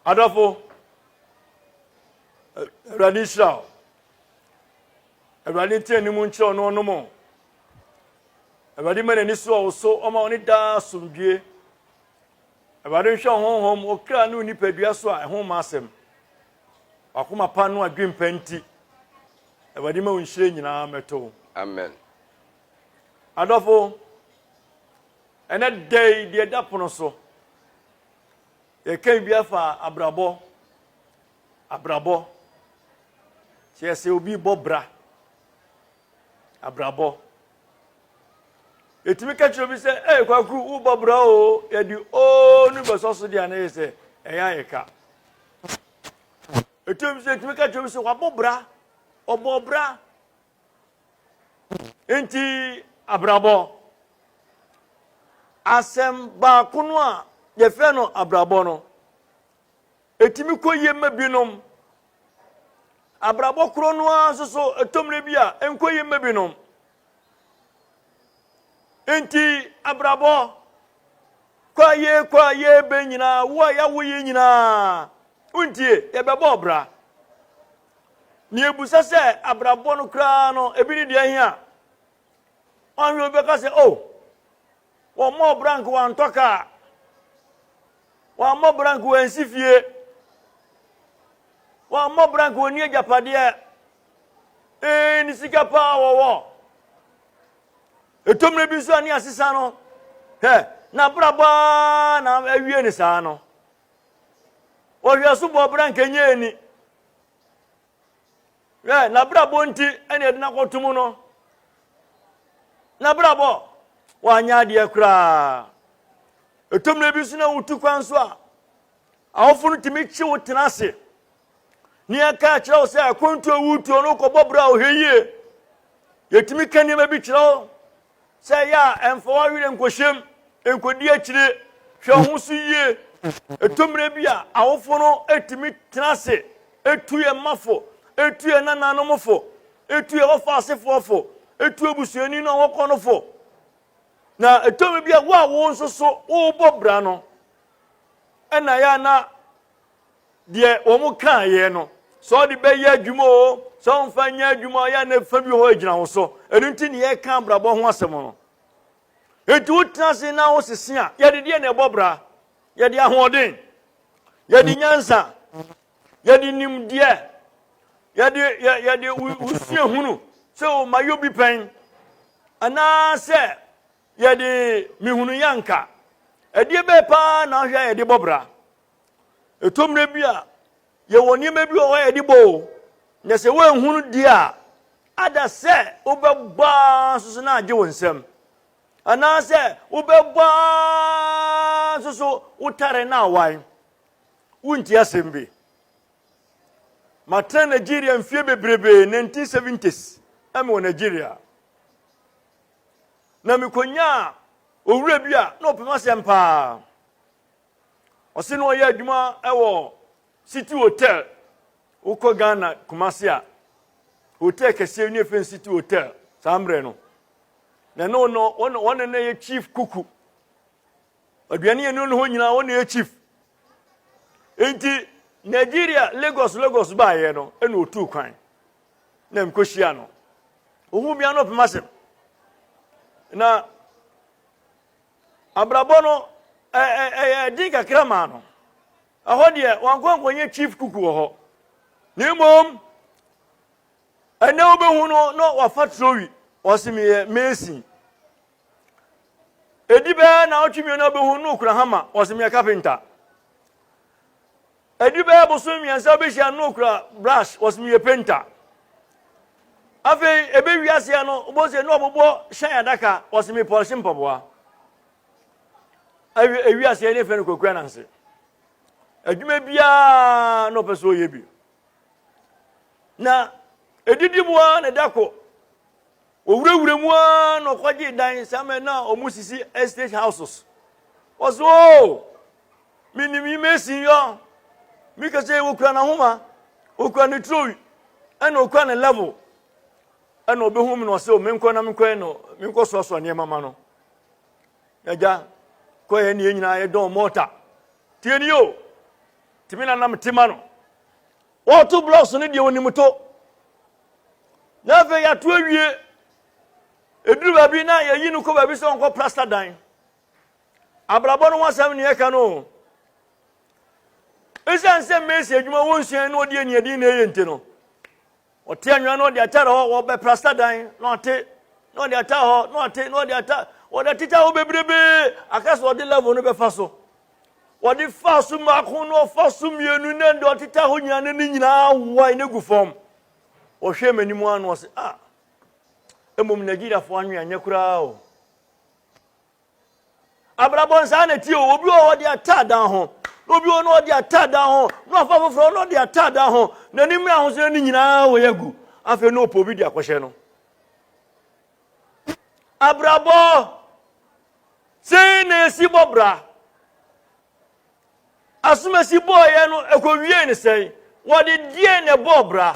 Adɔfo, Awurade nhyira wo. Awurade nte anim nkyerɛ ɔno ɔnom o. Awurade ma n'ani so ɔwo so ɔma ɔne daa asomdwie. Awurade nhwɛ ɔhonhom okra ne onipadua so a ɛho ma asɛm. Wakoma pa no adwene pa nti. Awurade ma wo nhyire nyinaa mɛto. Amen. Adɔfo, Ɛnnɛ da yi, deɛ ɛda pono so, yɛka biribi afa abrabɔ, abrabɔ, kyerɛ sɛ obi bɔ bra, abrabɔ. Yɛtumi ka kyerɛ obi sɛ, ɛyɛ kwakuru, wobɔ bra o, yɛde oo no bɛsɔ so deɛ anayɛ sɛ, ɛyɛ ayɛ ka. Ɛtumi sɛ yɛtumi ka kyerɛ obi sɛ, wabɔ bra, ɔbɔ bra. Enti abrabɔ. Asɛm baako no a yɛfrɛ no abrabɔ no, ɛtumi kɔ yie ma binom. Abrabɔ korɔ no ara nso so ɛtɔmmerɛ bi a ɛnkɔ yie ma binom. Enti abrabɔ kɔ a yee kɔ a yee bɛ nyinaa wo a yɛawo yi nyinaa wontie yɛbɛbɔ ɔbra. Nea ebusa sɛ abrabɔ no koraa no, ebi ne deɛ ahia. Wɔahwɛ obi bɛka sɛ, oh, wɔmmɔɔ brank wɔantɔ kaa, wɔammɔ brank wɔansi fie, wɔammɔ brank wɔnni agyapadeɛ, ee, ne sika paa wɔwɔ. Ɛtɔ mmerɛ bi nso a ne asesa no, hɛ, n'abrabɔ ara na awie ne saa no, Wɔhwɛ asubɔ bere a nka nyɛ ani. Hwɛ, n'abrabɔ nti ɛna ɛde n'akɔto mu no. N'abrabɔ, wanyɛ adeɛ koraa. Ɛtɔ mmerɛ bi so na wotu kwan so a, awofo no tumi kye wo tena ase ne yɛka akyerɛ wo sɛ akwantu a wotuo no wokɔbɔ berɛ a wohwɛ yie yɛtumi ka nneɛma bi kyerɛ wo sɛ ɛyɛ a ɛmfa w'awerɛ nkɔhyɛm nkɔdi akyire hwɛ ho so yie ɛtɔ mmerɛ bi a awofo no ɛtumi tena ase ɛtu yɛ mmafo ɛtu yɛ nananom fo ɛtu yɛ wɔfa asefoɔ fo ɛtu abusuani no a wɔkɔ no fo na ɛtɔ mmerɛ bi a wo a wo nso so wobɔ bra no ɛna yɛ na deɛ wɔn kaeɛ no sɛ ɔde bɛyɛ adwuma o sɛ ɔmfa nyɛ adwuma ɔyɛ a na fa bi hɔ agyina wo so ɛno nti ne yɛka abrabɔ ho asɛm no nti wotena ase na wosese a yɛde deɛ na ɛbɔ bra yɛde ahoɔden yɛde mm. nyansa yɛde nimdeɛ yɛde yɛde wusua hunu sɛ o ma yɛ obi pɛn anaasɛ yɛde mehunu yanka ɛdeɛ bɛɛ paa na ahwɛ a yɛde bɔ bra Ɛtɔ mmerɛ bi a, yɛwɔ nneɛma bi wɔ hɔ a yɛde bɔ o, na sɛ woanhu no deɛ a, ada sɛ wobɛbɔ ara nso so na agye wo nsam. Anaasɛ wobɛbɔ ara nso so wotare na awan. Wonti asɛm bi. Matena Nigeria mfie bebrebe, 1970s, ɛmɛ wɔ Nigeria. Na mekɔnyaa owura bi a na ɔpɛ m'asɛm paa. Ɔse na ɔyɛ adwuma wɔ City Hotel. Wokɔ Ghana Kumasi a, hotel kɛseɛ ne yɛfrɛ no City Hotel saa mmerɛ no. Na ɛno no wɔne na yɛ chief kuku. Aduane yɛ no ne hɔ nyinaa wɔne yɛ chief. Nti Nigeria Lagos Lagos baayɛ no ɛna otuu kwan na mkɔhyia no. Ohun bia no pema asɛm. Na Abrabɔ no yɛɛ den kakra maa no. Ɛhɔ deɛ, wankɔ ankɔnyɛ chief cook wɔ hɔ. Na mmom, ɛnɛ wobɛhu no na wafa Trowi, ɔse meyɛ mason. Ɛdi bɛyɛ na ɔtwe mmienu abɛhu no okura hama, ɔse meyɛ kapenta. Adu bɛyɛ bosome mmiɛnsa wobɛhyia no na ɔkura brush wɔse meyɛ painter afei ebe wiaseɛ no wobɔ sɛ na ɔbobɔ hyɛn adaka wɔse me pɔlhye mpaboa ewiaseɛ ne fɛ no kwakua nanse adwuma biara na ɔpɛ sɛ ɔyɛ bi na ɛdidiboa ne da ko Ɔwurawura mu ara na ɔkɔgyee dan saa mmerɛ no a wɔsisi estate houses. Ɔse oo, menim yi Mason yɔ, meka sɛ ɔkura n'ahoma, ɔkura ne turowi, ɛna ɔkura ne level. Ɛna ɔbɛhu me na ɔse o, menkɔ na menkɔyɛ no, menkɔ soasoa nneɛma ma no. Agya, kɔyɛ ne yɛn nyinaa yɛdɔn mɔɔta. Tie ni o, tumi na nam tema no. Wɔto blocks no deɛ onim to. Na afei yɛato awie. Ɛduru baabi na yɛyi no kɔ baabi sɛ ɔnkɔ plasta dan. Abrabɔ no ho asɛm ne yɛka no o. Ɛsiane sɛ mmesi adwuma wɔnsua na ɔde aniɛden na ɛyɛ nti no, ɔte anwea na ɔde atare hɔ wɔbɛ plasta dan na ɔte na ɔde atare hɔ na ɔte na ɔde atare wɔde atete hɔ bebrebee aka sɛ ɔde level no bɛfa so. Wɔde faa so mmaako na wɔfa so mmienu na deɛ ɔteta hɔ nyinaa na ne nyinaa awae na egu fam. Wɔhwɛɛ m'anim ara na wɔse, ah, mmom Nigeriafoɔ anwe anyɛ koraa o. Abrabɔ nsaa na tie o, obi wɔ hɔ ɔde ataa dan ho, na obi wɔ hɔ na ɔde ataa dan ho, na wafa foforɔ na ɔde ataa dan ho, na ne mmerɛ ahosuo ne nyinaa awae agu. Afei na ɔpɛ obi de akɔhyɛ no. Abrabɔ, sei na esi bɔ bra. Asomasi bɔɔyɛ no ekowiee ne sɛn? Wɔde deɛn na ɛbɔɔ bra?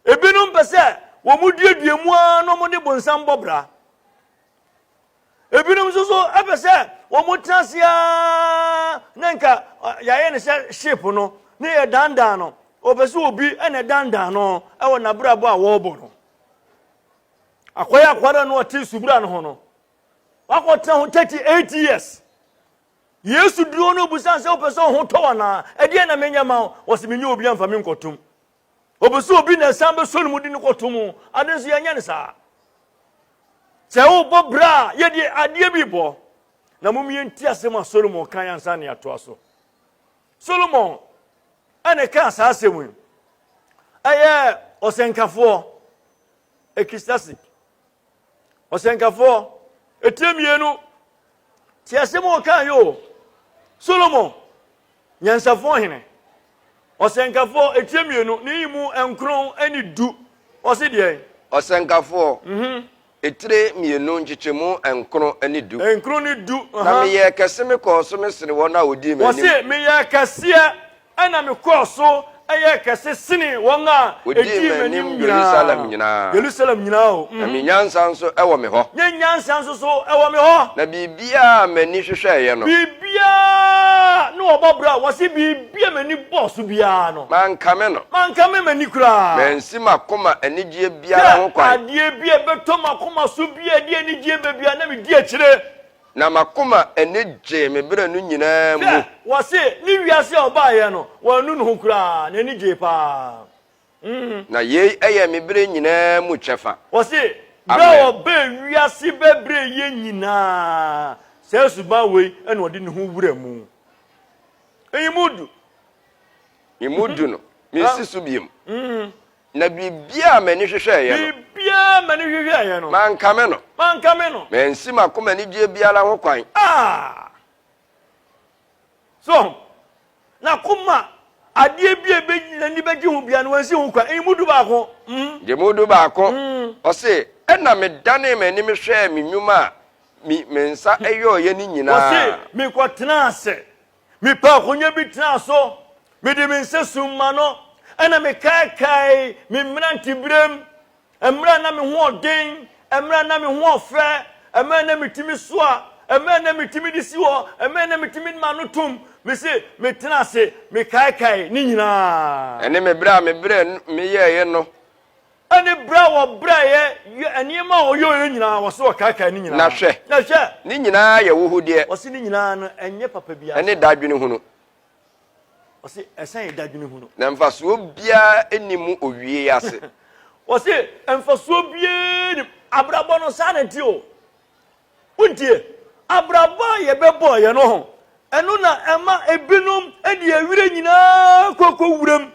Ebinom pɛ sɛ wɔduadua mu ara na wɔde bonsam bɔ bra. Ebinom nso so pɛ sɛ wɔtena ase ara na nka yɛayɛ no sɛ ship no na yɛdandan no. Wɔpɛ sɛ obi na ɛdandan no wɔ n'abrabɔ a wɔrebɔ no. Akɔyɛ akwadaa no ɔte subura no ho no, wakɔtena ho 38 years. Yesu duro no obusa sɛ wopɛ sɛ ɔho tɔ anaa ɛdeɛ na menyɛ ma wo wɔsi menyɛ obi amfa me nkɔtom. Obi sɛ obi na ɛsan bɛsɔ no mu de no kɔtom o ade nso yɛnyɛ no saa. Sɛ wobɔ bra a yɛde adeɛ bi bɔ na mom yɛnti asɛm a Solomon kan ansa ne atoa so. solomon ɛne kaa saa asɛm yi ɛyɛ ɔsɛnkafoɔ ekistasik ɔsɛnkafoɔ etie mmienu te asɛm a ɔkaa yɛ o solomon nyansafoɔ hene ɔsɛnkafoɔ etie mmienu ne yi mu nkron ɛne du ɔsi deɛ. ɔsɛnkafoɔ mhm. Etire mmienu, nkyekyɛmu nkron ne du. Nkron ne du, aha. Na meyɛɛ kɛse, mekɔɔ so mesene wɔn a wɔdii m'anim. Wɔse, meyɛɛ kɛseɛ, ɛna mekɔɔ so yɛɛ kɛse sene wɔn a wɔdii m'anim nyinaa. Yerusalem nyinaa. Yerusalem nyinaa o. Na me nyansa nso wɔ me hɔ. Me nyansa nso so wɔ me hɔ. Na biribiara a m'ani hwehwɛeɛ no. Biribiara ne wɔbɔ bra. Wɔse, biribi a m'ani bɔɔ so biara no. Mankame no. Mankame m'ani koraa. Mansi m'akoma anigyeɛ. biara ho kwan. Hwɛ adeɛ bi a ɛbɛtɔ m'akoma so bi a ɛde anigyeɛ ba bi a na medi akyire. Na m'akoma ani gyee me berɛ no nyinaa mu. Hwɛ, wɔse, ne wiase a ɔbaeɛ no, wannu ne ho koraa, n'ani gyee pa ara. Hmm. Na yei yɛ me berɛ nyinaa mu kyɛfa. Wɔse, berɛ a ɔbaa wiase bɛbrɛɛ yɛn nyinaa saa suban wei na ɔde ne ho wura mu. Eyi mu du. Emu du no, mensi so bio. Hmm. Na biribiara a m'ani hwehwɛeɛ no. Biribiara a m'ani hwehwɛeɛ no. Mankame no. Mankame no. Mansi m'akoma anigyeɛ biara ho kwan. Ah! So ɔho? N'akoma adeɛ bi a ebe n'ani bɛgye ho biara no, wansi ho kwan. Emu du baako. Mm. Gye mu du baako. Mm. Ɔse, ɛna medanee m'anim hwɛɛ me nnwuma a me, me nsa yɔeɛ no nyinaa. Ɔse, mekɔtenaa ase. Mepɛ akonnwa bi tena so, mede me nsa sum m'ano, ɛnna mekaakae me mmeranteberem, mmerɛ a na me ho ɔden, mmerɛ a na me ho ɔfɛ, mmerɛ a na metumi soa, mmerɛ a na metumi de si hɔ, mmerɛ a na metumi de m'ano tom. Mese metena ase mekaakae ne nyinaa. Ɛne me berɛ a mebrɛ meyɛeɛ no. Ne berɛ a wɔbrɛeɛ, yɛ nneɛma a wɔyɔeɛ nyinaa, wɔse wɔkaekae ne nyinaa. Na hwɛ, Na hwɛ, ne nyinaa yɛ wohodeɛ wɔse ne nyinaa no, ɛnyɛ papa biara ne saa. dadwenehunu, Wɔse ɛsan yɛ dadwenehunu. na mfasoɔ biara nni mu owieɛ ase. Wɔse mfasoɔ biara nni mu. Abrabɔ no, saa na ɛteɛ o. Wontie? Abrabɔ a yɛbɛbɔɔ yɛn no ho, ɛno na ɛma ebinom de awerɛ nyinaa kɔ kɔ wuram.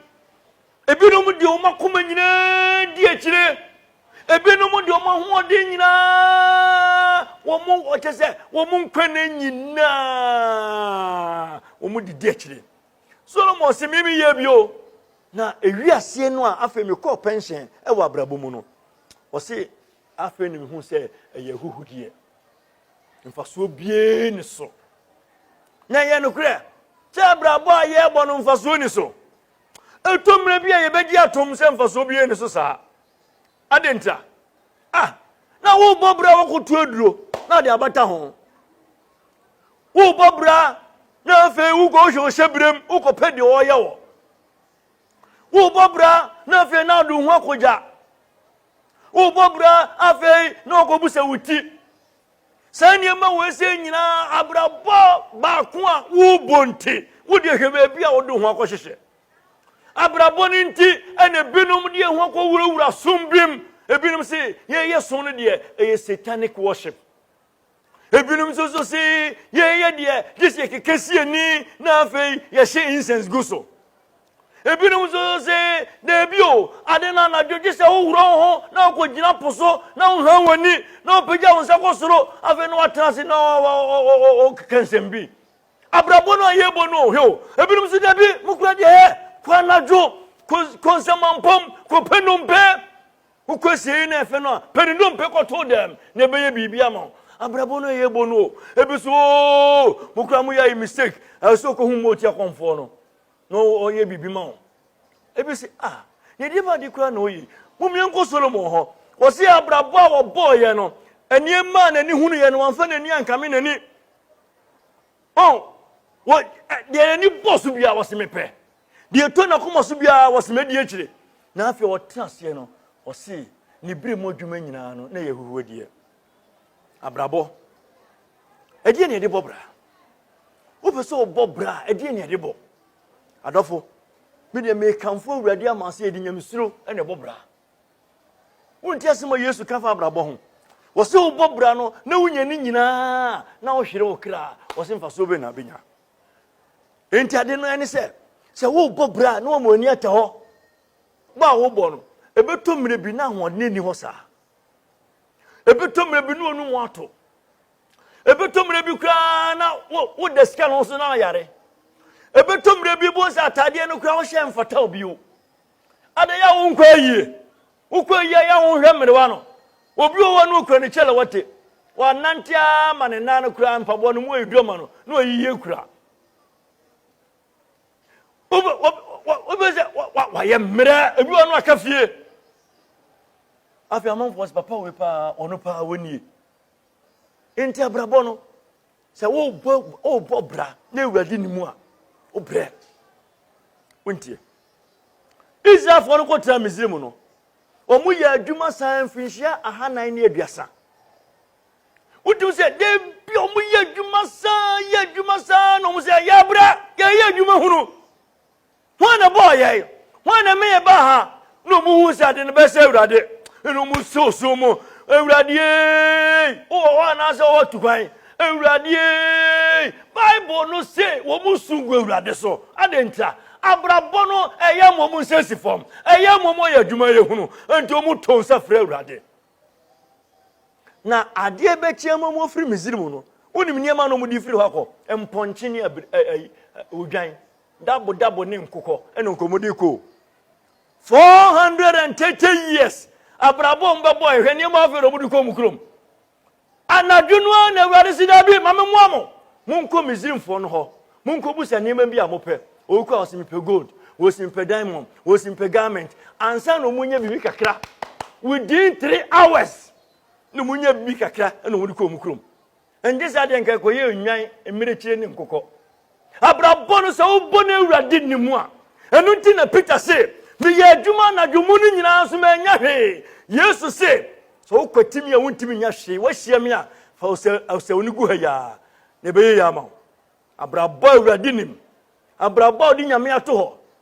Ebinom de wɔn akoma nyinaa di akyire. Ebinom de wɔn ahoɔden nyinaa, wɔn ɔkyɛ sɛ wɔn nkwa nna nyinaa wɔn de di akyire. Solomon se mimi yɛ bi o. Na ewi aseɛ no a afei mekɔɔ pɛnhyɛn wɔ abrabɔ mu no, ɔse afei na mehu sɛ ɛyɛ ahuhudeɛ. Mfasoɔ biara ni so. Na ɛyɛ nokorɛ sɛ abrabɔ a yɛrebɔ no mfasoɔ ni so. Ɛtɔ mmerɛ bi a yɛbɛgye atom sɛ mfasoɔ biara nni so saa. Adɛn ntia? A Na wobɔ bra wokɔto aduro na ade abata ho. Wobɔ bra na afei wokɔhwɛ ɔhyɛ berɛm wokɔpɛ deɛ ɔreyɛ wɔ. Wobɔ bra na afei na ado ho akɔgya. Wobɔ bra afei na ɔkɔbu sɛ wo ti. Saa nneɛma wei sɛ nyinaa abrabɔ baako a wobɔ nti, wodeɛ hwɛ baabi a wode ho akɔhyehyɛ. Abrabɔ no nti ɛna ebinom deɛ ho akɔwurawura som bi mu. Ebinom se yɛyɛ som no deɛ ɛyɛ satanic worship. Ebinom nso so se yɛyɛ deɛ gye sɛ yɛkeka si ani na afei yɛhyɛ incense gu so. Ebinom nso se, Dabi o, ade no anadwo gye sɛ woworɔ wo ho na wokogyina po so na wohran w'ani na wopagya wo nsa kɔ soro, afei na woatena ase na wokeka nsɛm bi. Abrabɔ no a yɛrebɔ no o, hwɛ o. Ebinom nso, Dabi, mo kura deɛ hɛ, kɔ anadwo, kɔ, kɔ nsɛmampam, kɔpɛ nnompe. Wokɔ asiei na ɛfɛ no a, pɛ ne nnompe kɔto dɛm na ɛbɛyɛ biribi ama wo. Abrabɔ no a yɛrebɔ no o. Ebi so, oo, mo kura mo yɛ ayi mistake, ɛsɛ sɛ wokɔhu mo tiakɔmfoɔ no. Na ɔyɛ biribi ma wo. Ebi se, ah, nea ɛdefa ade koraa na ɔyɛ yi. Mom yɛnkɔ Solomon hɔ. Wɔse abrabɔ a wɔbɔɔyɛ no, nneɛma a n'ani hunuiɛ no, wamfa n'ani ankame n'ani. Oh, wɔ, deɛ n'ani bɔ so biara, wɔse mepɛ. Deɛ ɛtɔ n'akoma so biara, wɔse mɛdi akyire. Na afei ɔtena aseɛ no, wɔse ne berɛ mu adwuma nyinaa no, na ɛyɛ ahuhuadie. abrabɔ ɛdeɛ ne ɛde bɔ bra wopɛ sɛ wobɔ bra ɛdeɛ ne ɛde bɔ adɔfo medeɛ mekamfo awurade ama sɛ yɛde nyamesuro ɛne ɛbɔ bra wonti asɛm a yesu ka fa abrabɔ ho wɔ sɛ wobɔ bra no na wonya ne nyinaa na wohwere wo kra wɔ sɛ mfasoɔ bɛ na bɛnya enti ade no ɛne sɛ sɛ wobɔ bra na wɔma ani ata hɔ bɔ a wobɔ no ɛbɛtɔ mmerɛ bi na ahoɔden ni hɔ saa ɛbɛtɔ mmerɛ bi ne ɔno mu ato ɛbɛtɔ mmerɛ bi koraa na woda sika no so na ayare ɛbɛtɔ mmerɛ bi bohu sɛ ataadeɛ no koraa wohyɛ mfata wo bio adɛn a wonkɔ ayie wokɔ ayie yɛ wohwɛ mmerewa no obi wɔ hɔ no okura ne kyɛlɛ wɔte wɔanante ara ma ne nan no koraa mpaboa no mu ayɛ dua ma no na ɔyiyie kura wobɛ sɛ wayɛ mmerɛ ebi wɔ no aka fie afei amanfoɔ sɛ papa wei paa ɔno paa wɔnie nti abrabɔ no sɛ wobɔ bra na awurade ne mu a wobrɛ wontie israelfoɔ no kɔtena misiri mu no wɔn yɛ adwuma saa mfinhyia ahanan ne aduasa wotumi sɛ da bi a wɔyɛ adwuma saa yɛ adwuma saa na wɔn sɛ yɛ abira yɛyɛ adwuma hunu wɔn na bɔɔ yɛn wɔn na meyɛ baa ha na wɔn hu sɛ ade no bɛsɛ awurade ɛna wɔn sɛ osuo mu awurade ee wowɔ hɔ anaasɛ wɔwɔ tukwan awurade ee bible no se wɔn su gu awurade so ade nta abrabɔ no ɛyɛ wɔn nsɛsi fam ɛyɛ wɔn yɛ adwuma yɛ hunu nti wɔn to nsa frɛ awurade. Na adeɛ bɛkyeɛ mu mu firi Misrim no, wonim nneɛma na wɔde firi hɔ akɔ, mpɔnkye ne odwan, dabodabo ne nkokɔ na nkɔmmɔde kɔ. 430 years abrabɔ mbɛbɔ ɛhwɛ nneɛma afei na wɔde kɔ mu kurom. Anadwo no ara na Awurade se, Dabi, ma memmoa mo. Monkɔ Misrimfoɔ no hɔ, monkɔbusa nneɛma bi a mopɛ. Obi kɔ a, ɔse mepɛ gold, ɔse mepɛ diamond, ɔse mepɛ garment. Ansa na wɔnya biribi kakra, within three hours, na wɔnya biribi kakra na wɔde kɔ wɔn kurom. Ɛnte saa deɛ nka ɛkɔyɛ nnwan, mmirekyire ne nkokɔ. Abrabɔ no, sɛ wobɔ no Awurade Din mu a. Ɛno nti na Peter se, Meyɛɛ adwuma anadwo mu no nyinaa nso mannya hwee. Yesu se, Sɛ wokwati me a wuntumi nya hwee, woahyia me a, fa ɔsɛw no gu ha yi ara, na ɛbɛyɛ yiye ama wo. Abrabɔ a Awurade nim, abrabɔ a ɔde Nyame ato hɔ,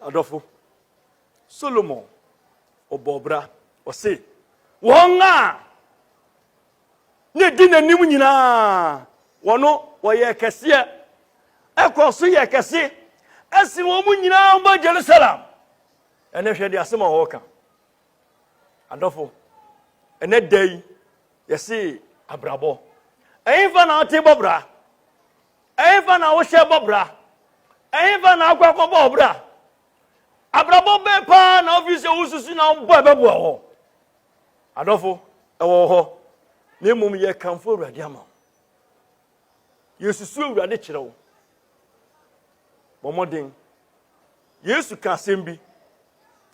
Adɔfo, Solomon ɔbɔɔ bra, ɔse, wɔn a na ɛdi n'anim nyinaa, wɔno wɔyɛ kɛseɛ, ɛkɔ so yɛ kɛse, ɛsen wɔn mu nyinaa ba Jerusalem. Ɛnɛ hwɛ de asɛm a wɔka. Adɔfo, ɛnɛ da yi, yɛse abrabɔ. Ɛhefa na wote bɔ bra? Ɛhefa na wohyɛ bɔ bra? Ɛhefa na akɔ akɔbɔ wo bra? Abrabɔ bɛn paa na wofii sɛ wosusu na wobɔ a ɛbɛboa wɔ? Adɔfo, ɛwɔ wɔ hɔ, na mmom yɛkamfo Awurade ama wo. Yɛsusu Awurade kyerɛ wo. Bɔ mmɔden. Yesu ka asɛm bi.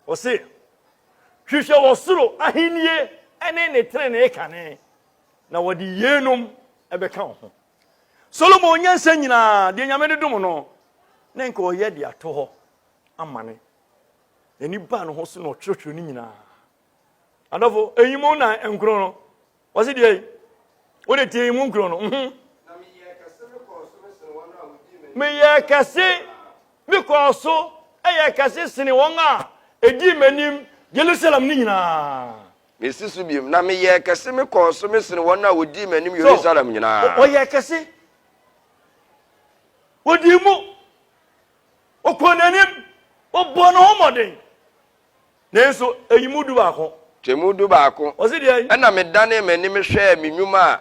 Ɔse, hwehwɛ wɔ soro ahennie ne ne trenee kane, na wɔde yeinom bɛka wo ho. Solomon nyansa nyinaa, deɛ nyame de dom no, na nka ɔyɛ de ato hɔ amane. N'ani baa ne ho so na ɔtwerɛtwerɛ no nyinaa. Adɔfo, ɛyi mu na nkron no, wɔse deɛ yi, wode tie yi mu nkron no. Mhm. Meyɛ kɛse, mekɔɔ so, ɛyɛ kɛse sene wɔn a ɛdii m'anim Jerusalem no nyinaa. Mesi so bio, na meyɛɛ kɛse, mekɔɔ so, mesene wɔn a wɔdii m'anim Yerusalem nyinaa. So, ɔyɛɛ kɛse, ɔdii mu, ɔkɔɔ n'anim, ɔbɔɔ ne ho mmɔden, nanso ɛyi mu dubaako. Twam dubaako, ɛnna medanee m'anim hwɛɛ me nnwuma a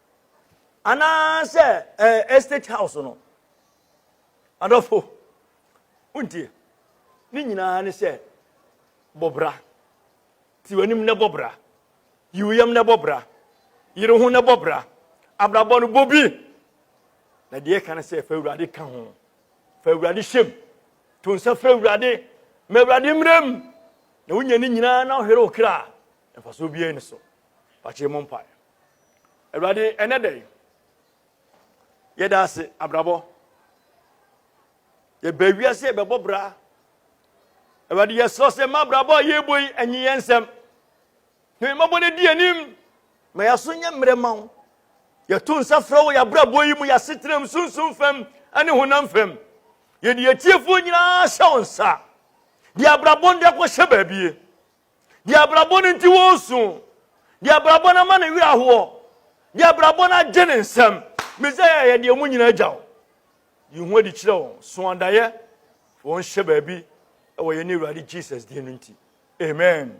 anaasɛ ɛɛ eh, estate house no adɔfo wontie ne nyinaa ne sɛ bɔbra ti w'anim ne bɔbra yi wo yam ne bɔbra yere ho ne bɔbra abrabɔ no bɔ bi na deɛ ɛka no sɛ fa awurade ka ho fa awurade hyɛm to nsa frɛ awurade ma awurade mmerɛ mu na wonya ne nyinaa na wohwere wo kra mfasoɔ biara ni so pakyɛ mu mpae Awurade, ɛnɛ da yi, yɛda ase abrabɔ. Yɛbɛ wiase yɛbɛbɔ bra. Awurade, yɛsrɛ sɛ ma abrabɔ a yɛrebɔ yi anyi yɛn nsɛm. Na mmɔbɔ no di anim ma yɛaso nyɛ mmerɛ ma wo. Yɛto nsa frɛ wo yɛ abrabɔ yi mu, yɛ asetenam sunsum fam ne honam fam. Yɛde yɛtiefoɔ nyinaa hyɛ wo nsa. De abrabɔ no de akɔhyɛ baabie. Deɛ abrabɔ no nti wɔresu. Deɛ abrabɔ no ama ne werɛ ahoɔ. Deɛ abrabɔ no agye ne nsam. Mesaia yɛ deɛ mu nyina agya wo. Yi ho adi kyerɛ wɔn. So adaeɛ wɔn hyɛ baabi wɔ yɛne Awurade Jesus din no nti. Amen.